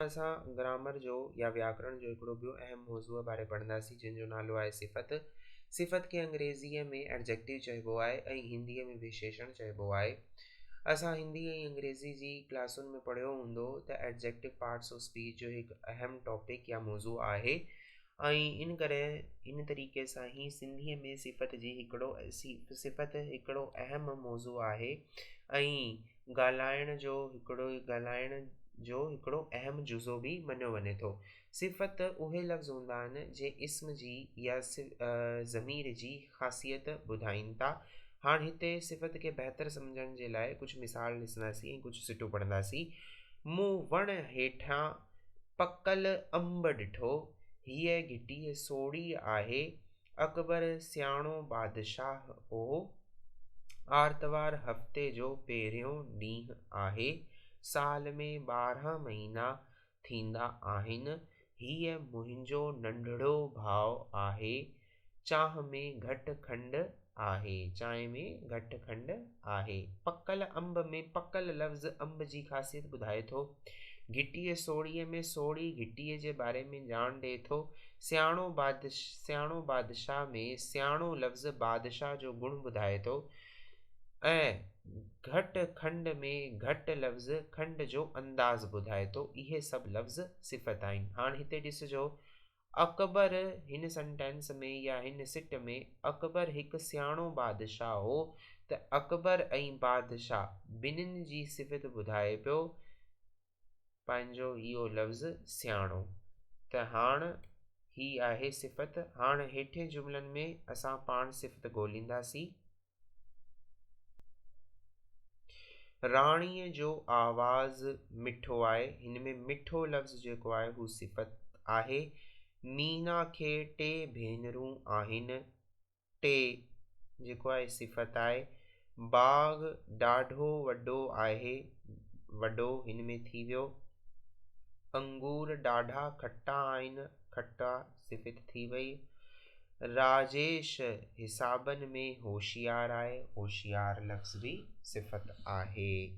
اسان گرامر جو يا وياڪرڻ جو هڪڙو ٻيو اهم موضوع باري پڙهنداسين جنهن جو نالو آهي صفت. صفت کي انگريزيء ۾ Adjective چئبو آهي ۽ هنديء ۾ وشيشڻ چئبو آهي. اسان هندي ۽ انگريزي جي ڪلاسن ۾ پڙهيو هوندو ته Adjective Parts of Speech جو هڪ اهم ٽاپڪ يا موضوع آهي ۽ ان ڪري ان طريقي سان هي سنڌيء ۾ صفت جي هڪڙو صفت هڪڙو اهم موضوع آهي ۽ ڳالهائڻ جو هڪڙو ڳالهائڻ جو هڪڙو اهم جزو به مڃيو وڃي ٿو. صفت اهي لفظ هوندا آهن، جي اسم جي يا ضمير جي خاصيت ٻڌائين ٿا. هاڻ هتي صفت کي بهتر سمجهڻ جي لاء ڪجهه مثال ڏسنداسين ۽ ڪجهه سٽون پڙهنداسين، مون وڻ هيٺيان پڪل انب ڏٺو، هيء گهٽي سوڙهي آهي، اڪبر سياڻو بادشاهه هو. آرتوار هفتي جو پهريون ڏينهن آهي. سال ۾ ٻارهن مهينا ٿيندا آهن. هيء منهنجو ننڍڙو ڀاء آهي. چانهه ۾ گهٽ کنڊ آهي. آهي. پڪل انب ۾ پڪل لفظ انب جي خاصيت ٻڌائي ٿو. گهٽيء سوڙهيء ۾ سوڙهي گهٽيء جي باري ۾ ڄاڻ ڏئي ٿو. سياڻو سياڻو بادشاهه ۾ سياڻو لفظ بادشاهه جو گڻ ٻڌائي ٿو ۽ گهٽ کنڊ ۾ گهٽ لفظ کنڊ جو انداز ٻڌائي ٿو. اهي سڀ لفظ صفت آهن. هاڻ هتي ڏسجو. اڪبر، هن سنٽينس ۾ يا هن سٽ ۾ اڪبر هڪ سياڻو بادشاهه هو ته اڪبر ۽ بادشاهه ٻنهين جي صفت ٻڌائي پيو پنهنجو اهو لفظ سياڻو ته هاڻ هي آهي صفت هاڻ هيٺين جملن ۾ اسان پاڻ صفت ڳولينداسين. راڻيء جو آواز مٺو آهي. هن ۾ مٺو لفظ جيڪو آهي هو صفت آهي. مينا کي ٽي ڀينرون آهن. ٽي جيڪو آهي صفت آهي. باغ ڏاڍو وڏو آهي. وڏو هن ۾ ٿي ويو. انگور ڏاڍا کٽا آهن. کٽا ثبت ٿي وئي. راجيش حسابن ۾ هوشيار آهي، هوشيار لفظ به صفت آهي.